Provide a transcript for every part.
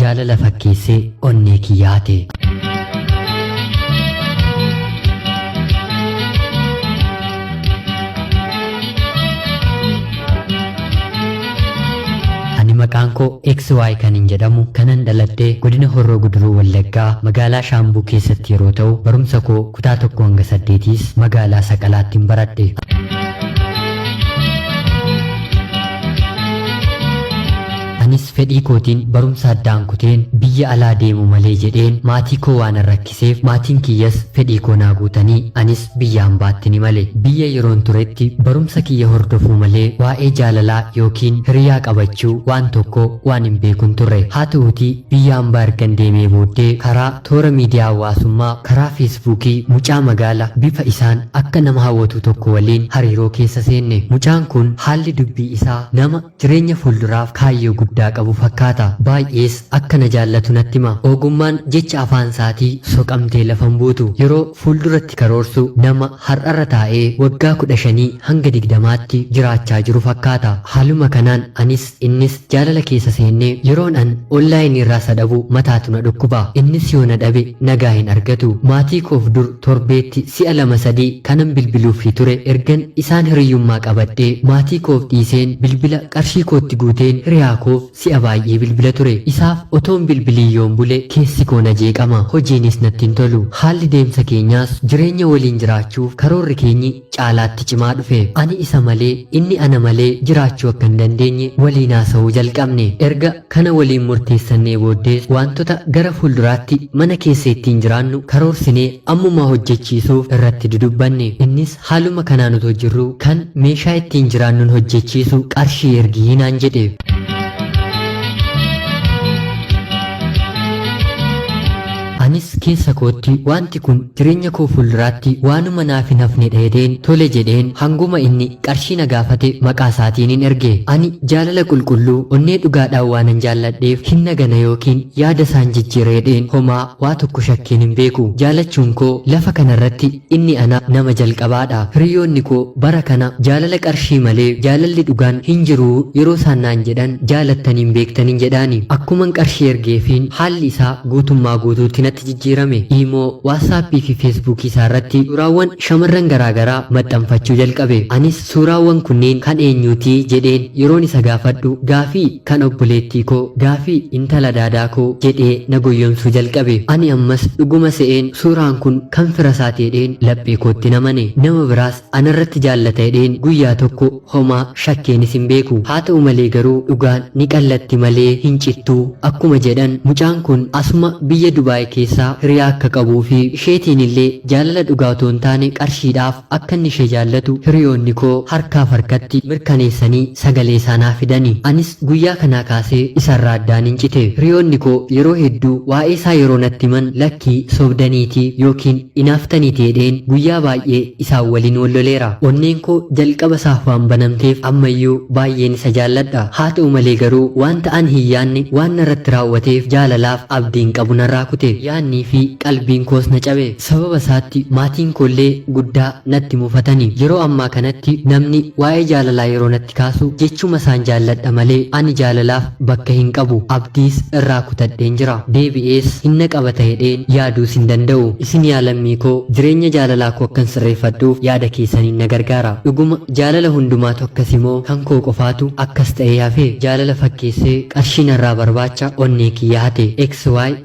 Jaalala fakkeessee onnee kiyya hate. Ani maqaan koo XY kan hin jedhamu kanan dhaladhee godina Horroo Guduruu Wallaggaa magaalaa Shaambuu keessatti yeroo ta'u barumsa koo kutaa tokko hanga saddeetiis magaalaa Saqalaattiin baradhe. Fedhii kootiin barumsa addaan kuteen biyya alaa deemuu malee jedheen maatii koo waanan rakkiseef maatiin kiyyas fedhii koo naa guutanii anis biyya ambaattin imale. Biyya yeroon turetti barumsa kiyya hordofuu malee waa'ee jaalalaa yookiin hiriyaa qabachuu waan tokko waan hin beekun turre. Haa ta'uutii biyya ambaa ergan deemee booddee karaa toora miidiyaa hawaasummaa karaa feesbuukii mucaa magaala bifa isaan akka nama hawwatuu tokko waliin hariiroo keessa seenne. Mucaan kun haalli dubbii isaa nama Jireenya fuulduraaf kaayyoo guddaa qabu fakkaata. Baay'ees akka na jaallatu natti hima. Ogummaan jecha afaansaatii soqamtee lafa hin buutu. Yeroo fuulduratti karoorsu nama har'arra taa'ee waggaa kudha shanii hanga digdamaatti jiraachaa jiru fakkaata. Haaluma kanaan anis innis jaalala keessa seenne. Yeroon an onlaayiniirraa isa dhabu mataatu na dhukkuba. Innis yoo na dhabe nagaa hin argatu. Maatii koof dur Torbeetti si'a lama sadii kanan bilbiluuffii ture ergan isaan hiriyyummaa qabadhee maatii koof dhiiseen bilbila qarshii kootti guuteen hiriyaa koof si'a baay'ee bilbila ture isaaf otoon bilbiliin yoon bule keessi koo na jeeqama hojiinis natti hin tolu haalli deemsa keenyaas jireenya waliin jiraachuuf karoorri keenyi caalaatti cimaa dhufe. Ani isa malee, inni ana malee jiraachuu akka hin dandeenye waliin haasa'uu jalqabne. Erga kana waliin murteessannee booddees waantota gara fuulduraatti mana keessa ittiin jiraannu karoorsinee ammumaa hojjechiisuuf irratti dudubbanne. Innis haaluma kanaan otoo jirruu kan meeshaa ittiin jiraannun hojjechiisu qarshii ergi naan jedhe. Anis keessa kootti waanti kun jireenya koo fuulduraatti waanuma naaf hin hafnedha jedheen tole jedheen hanguma inni qarshii na gaafate maqaa isaatiinin erge. Ani jaalala qulqulluu onnee dhugaadhaan waanan jaalladheef hin nagana yookiin yaada isaan jijjiira jedheen homaa waa tokko shakkeen hin beeku. Jaalachuun koo lafa kanarratti Inni ana nama jalqabaa dha. Hiriyoonni koo bara kana jaalala qarshii malee jaalalli dhugaan hin jiru yeroo isaan naan jedhan jaalattanii hin beektanin jedhaani. Akkuman qarshii ergeefiin haalli isaa guutummaa guutuutti natti jijjiirame. Imo, WhatsApp fi Facebook isaa irratti suuraawwan shamarran garaa garaa maxxanfachuu jalqabe. Anis. Suuraawwan kunneen kan eenyuuti? jedheen yeroon isa gaafadhu gaafii kan obboleettii koo, gaafii intala daadaa koo jedhee na goyyomsuu jalqabe. Ani ammas dhuguma se'een suuraan kun kan fira isaati jedheen laphee kootti hin amane. Nama biraas ana irratti jaallata jedheen guyyaa tokko homaa shakkeenis hin beeku. Haa ta'u malee garuu dhugaan ni qallatti malee hin cittu akkuma jedhan mucaan kun asuma biyya Dubaay keessaa hiriyaa akka qabuu fi isheetiinillee jaalala dhugaa otoo hin taane qarshiidhaaf Akka inni ishee jaallatu hiriyoonnikoo harkaaf harkatti mirkaneessanii sagaleesaa naa fidani. Anis guyyaa kanaa kaasee isarraa addaanin cite. Hiriyoonnikoo yeroo hedduu waa'eesaa yeroo natti himan lakkii sobdaniiti ykn inaaftaniiti jedheen guyyaa baay'ee isaan waliin wal loleera. Onneenkoo jalqaba isaaf waan banamteef ammayyuu baay'een isa jaalladha. Haata'u malee garuu wanta ani hin yaadne waan narratti raawwateef jaalalaaf abdiin qabu narraa kute. Yaadniifi qalbiinkoos na cabe. Sababa isaatti maatiin koo illee guddaa natti mufatani. Yeroo ammaa kanatti namni waa'ee jaalalaa yeroo natti kaasu jechuma isaan jaalladha malee ani jaalalaaf bakka hin qabu. Abdiis irraa kutadheen jira. Deebi'ees hin na qabata hedheen yaaduus hin danda'u. Isin yaa lammii koo jireenya jaalalaa koo akkan sirreeffadhuuf yaada keessaniin na gargaara. Dhuguma jaalala hundumaatu akkasi moo kan koo qofaatu akkas ta'ee hafe? Jaalala fakkeessee qarshii narraa barbaacha onnee kiyya hate. XY.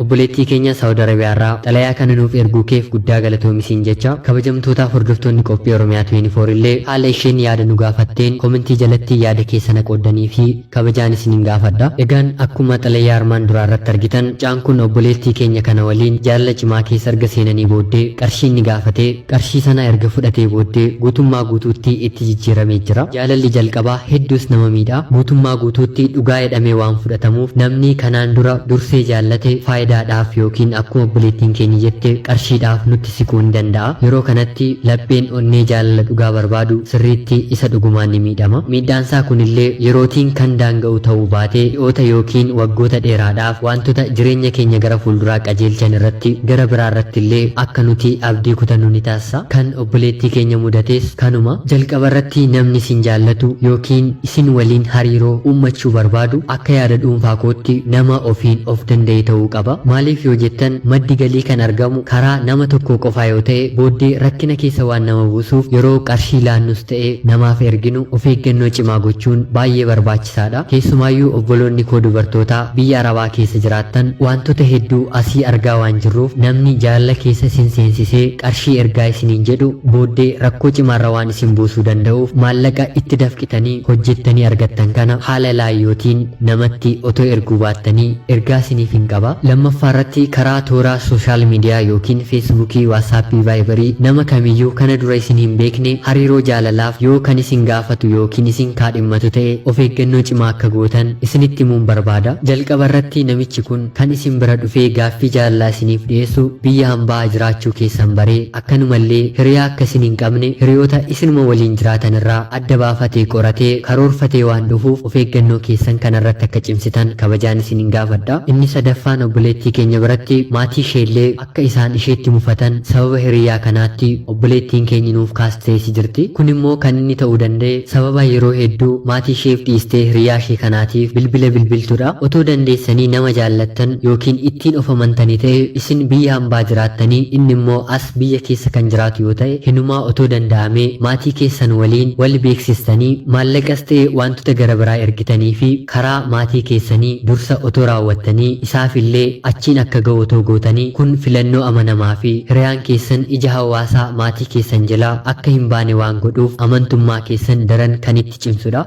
Obboleettii keenya Saawud Arabiyaa irraa xalayaa kana nuuf erguu keef guddaa galatoomi siin jecha, kabajamtootaaf hordoftoonni Qophii Oromiyaa 24 illee haala isheen yaada nu gaafatteen komentii jalatti yaada keessa na qooddaniifii kabajaan isinin gaafadha. Egaan akkuma xalayaa armaan duraa irratti argitan mucaan kun obboleettii keenya kana waliin jaalala cimaa keessa erga seenanii booddee qarshii inni gaafate, Qarshii sana erga fudhatee booddee guutummaa guutuutti itti jijjiiramee jira. Jaalalli jalqabaa hedduus nama miidha. Guutummaa guutuutti dhugaa jedhamee waan fudhatamuuf namni kanaan dura dursee jaallate faayidaadhaaf ykn akkuma obboleettiin keenya jette qarshiidhaaf nutti siquu ni danda'a. Yeroo kanatti lapheen onnee jaalala dhugaa barbaadu sirriitti isa dhugumaan ni miidhama. Miidhaansaa kunillee yerootiin kan daanga'u ta'uu baate ji'oota ykn waggoota dheeraadhaaf waantota jireenya keenya gara fuulduraa qajeelchan irratti gara biraarrattillee akka nuti Abdii kutannoo ni taasisa. Kan obboleettii keenya mudates kanuma. Jalqabarratti namni isin jaallatu yookiin isin waliin hariiroo uummachuu barbaadu akka yaada dhuunfaa kootti nama ofiin of danda'e ta'uu qaba. Maaliif yoo jettan maddi galii kan argamu karaa nama tokkoo qofaa yoo ta'e booddee rakkina keessa waan nama buusuuf yeroo qarshii laannus ta'e namaaf erginu of eeggannoo cimaa gochuun baay'ee barbaachisaadha. barbaachisaadha. Keessumaayyuu obboloonni koo dubartootaa biyya Arabaa keessa jiraattan waantota hedduu asii argaa waan jirruuf namni jaalala keessa isin seensisee qarshii ergaa isiniin jedhu booddee rakkoo cimaarra waan isin buusuu danda'uuf maallaqa itti dafqitanii hojjettanii argattan kana haala laayootiin namatti otoo erguu baattanii ergaa isiniifin qaba. Lammaffaarratti karaa toora sooshaal miidiyaa ykn feesbuukii, waatsaappii, vaayibarii nama kamiyyuu kana dura isin hin beekne hariiroo jaalalaaf yoo kan isin gaafatu ykn isin kaadhimamu himatu ta'e of eeggannoo cimaa akka gootan isinitti himuun barbaada. Jalqaba irratti namichi kun kan isin bira dhufee gaaffii jaalalaa isiniif dhiyeessu biyya hambaa jiraachuu keessan baree akkanuma illee hiriyaa akka isin hin qabne hiriyoota isinuma waliin jiraatan irraa adda baafatee qoratee karoorfatee waan dhufuuf of eeggannoo keessan kana irratti akka cimsitan kabajaan isinin gaafadha. Inni sadaffaan obboleettii keenya biratti maatii ishee illee Akka isaan isheetti mufatan sababa hiriyyaa kanaatti obboleettiin keenyi nuuf kaasteesi jirti. Kun immoo kan inni ta'uu danda'e sababa yeroo hedduu maatii isheef dhiistee hiriyyaa ishee kanaatiif bilbila bilbiltudha. Otoo dandeessanii nama jaallattan ykn ittiin of amantani ta'e isin biyya hambaa jiraattanii inni immoo as biyya keessa kan jiraatu yoo ta'e hinumaa otoo danda'amee maatii keessan waliin wal beeksistanii maallaqas ta'e waantota gara biraa ergitaniifi karaa maatii keessanii dursa otoo raawwattanii Isaaf illee achiin akka ga'u otoo gootanii kun filannoo amanamaa fi hiriyaan keessan ija hawaasaa maatii keessan jalaa akka hin baane waan godhuuf amantummaa keessan daran kan itti cimsu dha.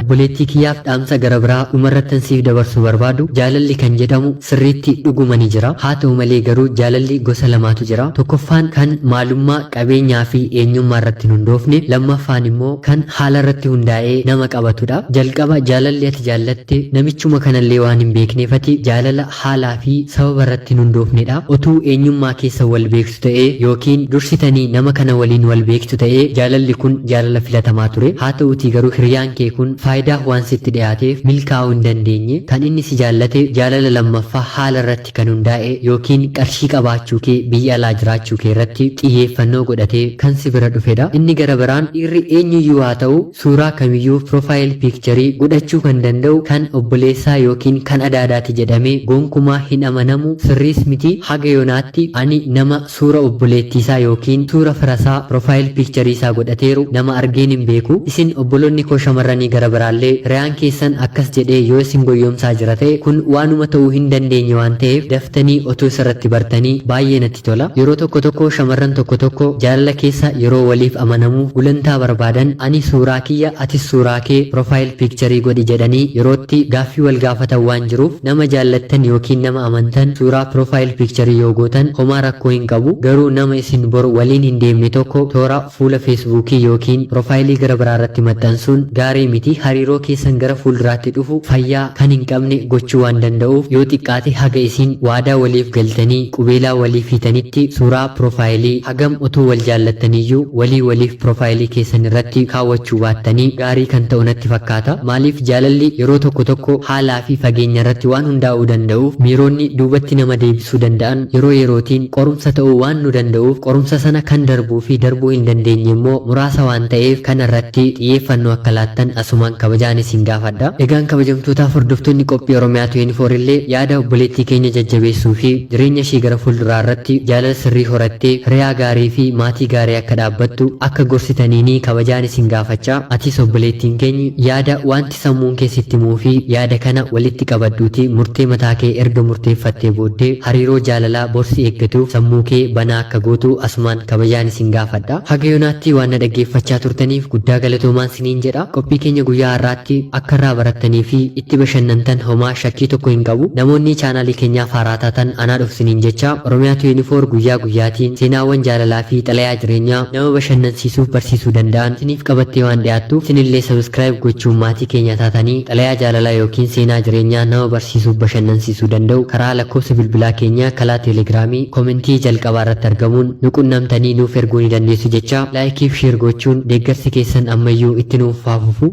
Obboleettii kiyyaaf dhaamsa gara biraa dhumarrattan siif dabarsuu barbaadu jaalalli kan jedhamu sirriitti dhuguma ni jira. Haata'u malee garuu jaalalli gosa lamaatu jira. Tokkoffaan kan maalummaa, qabeenyaafi eenyummaarratti hin hundoofne, lammaffaan immoo kan haalarratti hundaa'ee nama qabatudha. Jalqaba jaalalli ati jaallatte namichuma kanallee waan hin beekneef ati jaalala haalaafi sababarratti hin hundoofnedha. Otuu eenyummaa keessan wal beektuu. ta'e ykn dursitanii nama kana waliin wal beektu ta'e jaalalli kun jaalala filatamaa ture. Haa ta'uutii garuu hiriyaan kee kun faayidaaf waan sitti dhiyaateef milkaa'uu hin dandeenye. Kan inni si jaallate jaalala lammaffaa haala irratti kan hundaa'e ykn qarshii qabaachuu kee biyya alaa jiraachuu kee irratti xiyyeeffannoo godhatee kan si bira dhufedha. Inni gara biraan dhiirri eenyuyyuu haa ta'u, Suuraa kamiyyuu, profile picture, godhachuu kan danda'u kan obboleessaa ykn kan adaadaati jedhamee gonkumaa hin amanamu, sirriis miti. Haga yonaatti ani nama suura obboleettiisaa ykn suura firasaa profile picture isaa godhateeru nama argeen hin beeku. Isin obboloonni koo shamarranii gara biraallee hiriyaan keessan akkas jedhee yoo isin goyyomsaa jira ta'e kun waanuma ta'uu hin dandeenye waan ta'eef daftanii otuu isarratti bartanii baay'ee natti tola. namatti tola. Yeroo tokko tokko shamarran tokko tokko jaalala keessa yeroo waliif amanamuuf gulantaa barbaadan ani suuraa kiyya atis suuraa kee profile picture godhi jedhanii yerootti gaaffii wal gaafatan waan jiruuf nama jaallattan ykn nama amantan suuraa profile picture yoo gootan homaa rakkoo hin qabu garuu nama isin bor waliin hin deemne tokko toora Fuula Feesbuukii ykn pirofaayilii gara biraa irratti maxxansuun gaarii miti, hariiroo keessan gara fuulduraatti dhufu fayyaa kan hin qabne gochuu waan danda'uuf yoo xiqqaate haga isin waadaa waliif galtanii qubeelaa waliif hiitanitti suuraa pirofaayilii hagam utuu wal jaallattaniyyuu walii waliif pirofaayilii keessan irratti kaawwachuu baattanii gaarii kan ta'u natti fakkaata. Maaliif jaalalli yeroo tokko tokko haalaa fi fageenya irratti waan hundaa'uu danda'uuf miiroonni duubatti nama deebisuu danda'an yeroo yerootiin qorumsa ta'uu waan nu danda'uuf qorumsa sana kan darbuu fi darbuu hin dandeenye immoo muraasa waan ta'eef kana irratti xiyyeeffannoo akka laattan asumaan kabajaan isin gaafadha. Egaan kabajamtootaaf hordoftoonni qophii Oromiyaa 24 illee yaada obboleettii keenya jajjabeessuu fi jireenya ishee gara fuulduraa irratti jaalala sirrii horattee hiriyaa gaarii fi maatii gaarii akka dhaabbattu akka gorsitaniinii kabajaan isin gaafachaa atis obboleettiin keeny yaada waan Sammuun kee sitti himuufi yaada kana walitti qabadhuutii murtee mataa kee erga murteeffattee booddee hariiroo jaalalaa bor si eeggatuuf sammuu kee banaa akka gootu asumaan kabajaan isin gaafadha. Haga yoonaatti waan na dhaggeeffachaa turtaniif guddaa galatoomaan siniin jedha. Qophii keenya guyyaa har'aatti akka irraa barattanii fi itti bashannantan homaa shakkii tokko hin qabu. Namoonni chaanaalii keenyaaf haaraa taatan anaa dhufu siniin jecha. Oromia 24 guyyaa guyyaatiin seenaawwan jaalalaa fi xalayaa jireenyaa. nama bashannansiisuuf barsiisuu danda'an siniif qabattee waan dhiyaattuuf isinillee subscribe gochuun maatii keenyaa taatanii xalayaa jaalalaa yookiin seenaa jireenyaa nama barsiisuuf bashannansiisuu danda'u karaa lakkoofsa bilbilaa keenyaa kalaa telegramii komentii jalqabaa irratti argamuun nu qunnamtanii nuuf erguu ni dandeessu jechaa like fi share gochuun deeggarsi keessan ammayyuu itti nuuf haa fufu.